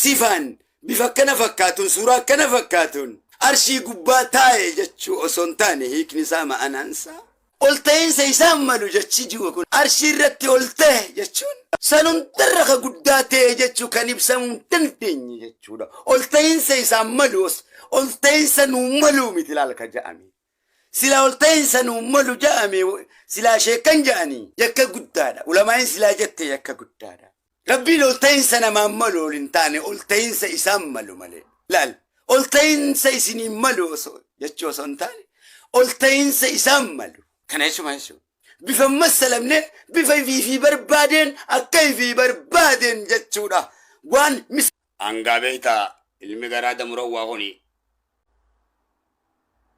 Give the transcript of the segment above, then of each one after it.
sifaan bifa akkana fakkaatuun suuraa akkana fakkaatuun arshii gubbaa taa'e jechuu osoo hin taane hiikni isaa ma'anaan isaa ol ta'iinsa isaan malu jechi ji'u kun arshii irratti ol ta'e jechuun san hundarra ka guddaa ta'e jechuu kan ibsamuu hin dandeenye jechuudha ol ta'iinsa isaan malu ol ta'iinsa nuu maluu miti laal ka ja'ame Silaa ol ta'iinsa nuun malu ja'ame silaa sheekkan ja'ani yakka guddaadha. Ulamaa'iin silaa jette yakka guddaadha. Rabbiin ol ta'iinsa namaan malu ol hin taane ol ta'iinsa isaan malu malee. Laal ol ta'iinsa isiniin malu osoo jechuu osoo hin taane ol ta'iinsa isaan malu. Kana jechuun maal jechuudha? Bifa hin massalamne bifa ifii fi barbaadeen akka ifii barbaadeen jechuudha. Waan mis. Hangaa beekta ilmi garaa damurawwaa kuni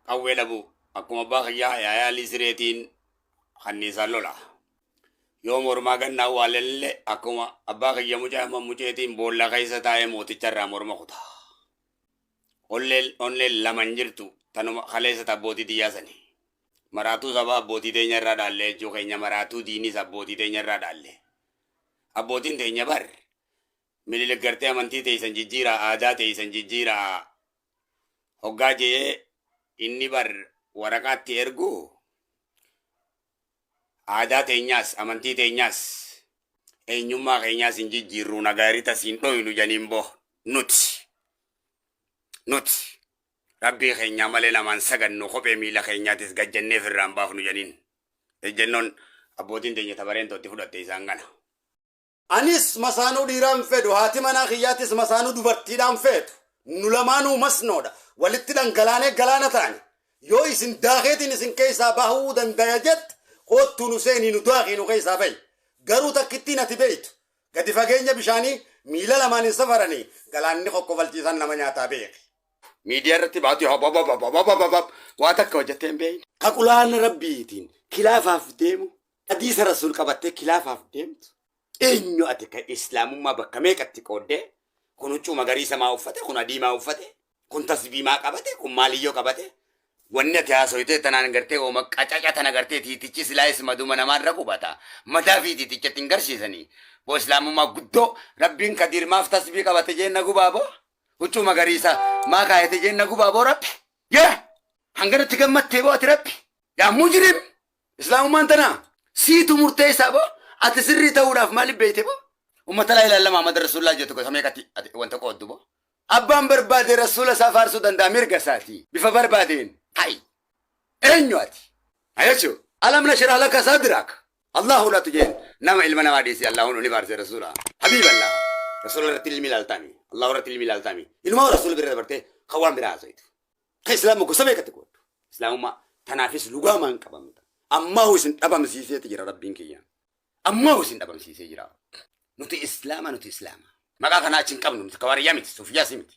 qawwee dhabu akkuma abbaa kiyyaa yaayaalii sireetiin kanniisaan lola. Yoo mormaa gannaa waalelille akkuma abbaa kiyya mucaa amma muceetiin boolla keessa taa'ee mooticha irraa morma kuta. Olleen onneen lama hin jirtu tanuma kaleessa abbootii tiyyaa sani. Maraatuu sabaa abbootii teenya irraa dhaallee jechuu keenya maraatuu diinis abbootii teenya irraa dhaallee. Abbootiin teenya bar Minilik gartee amantii teeysan jijjiiraa aadaa teeysan jijjiiraa hoggaa je'e inni bar waraqaa itti ergu aadaa teenyaas amantii teenyaas eenyummaa keenyaas hin jijjiirru nagaaritas hin dhoynu janiin bo nuti nuti rabbii keenyaa malee namaan sagannu kophee miila keenyaatis gajjannee firraan baafnu janiin ejjennoon abbootiin teenya tabareen tootti fudhatte isaan kana. Anis masaanuu dhiiraa hin fedhu, haati manaa kiyyaatis masaanuu dubartiidhaa hin feetu. Nu lamaanuu masnoodha. Walitti dhangalaanee galaana taane. Yoo isin daakeetiin isin keessaa bahuu dandaya jette, koottuu nu seenii nu daakii nu keessaa bahi. Garuu takkittiin ati beektu, gadi fageenya bishaanii miila lamaan hin safaranii galaanni kokkofalchiisaan nama nyaataa beeki. Miidiyaa irratti baatee habababababababab waa takka hojjettee hin beekne. Ka qulaana Rabbiitiin kilaafaaf deemu Hadiisa Rasuul qabattee kilaafaaf deemtu eenyu ati kan islaamummaa bakka meeqatti qooddee kun huccuu magariisa maa uffate kun adii maa uffate kun tasbii maa qabate kun maaliyyoo qabate wanni ati haasoytee tanaan gartee ooma qacaca tana gartee tiitichi silaayis maduma namaarra qubata mataa fi tiitichatti hin garsiisanii boo islaamummaa guddoo rabbiin kadiir maaf tasbii qabate jeenna gubaa boo huccuu magariisa maa kaayate jeenna gubaa boo rabbi yaa hanganatti gammattee boo ati rabbi yaa mujrim Islaamummaan tanaa? Siitu murteessaa boo? Ati sirrii ta'uudhaaf maaliif beeyte boo? Ummata laa ilaaha illallah Muhammad Rasuulullaah jettu gosa meeqatti ati wanta qooddu boo? Abbaan barbaade Rasuula isaa faarsuu danda'a mirga isaati. Bifa barbaadeen. Hay! Eenyu ati? Na jechuu? Alam nashrah laka sadrak? Allaahu laatu jeen nama ilma namaa dhiisi Allaahun ni faarse Rasuula. Habiiba Allaah. Rasuula irratti ilmi ilaaltaami? Allaahu irratti ilmi ilaaltaami? Inumaa Rasuula bira dabartee kan waan biraa haasoytu. Ta Islaama gosa meeqatti qooddu? Islaamummaa tanaafis lugaamaan qabamta. Ammaahu isin dhabamsiiseeti jira Rabbiin kiyyaan. Ammaahu isin dhabamsiisee jira. Nuti Islaama nuti Islaama. Maqaa kanaa achi hin qabnu nuti kawaariyyaa miti suufiyyaas miti.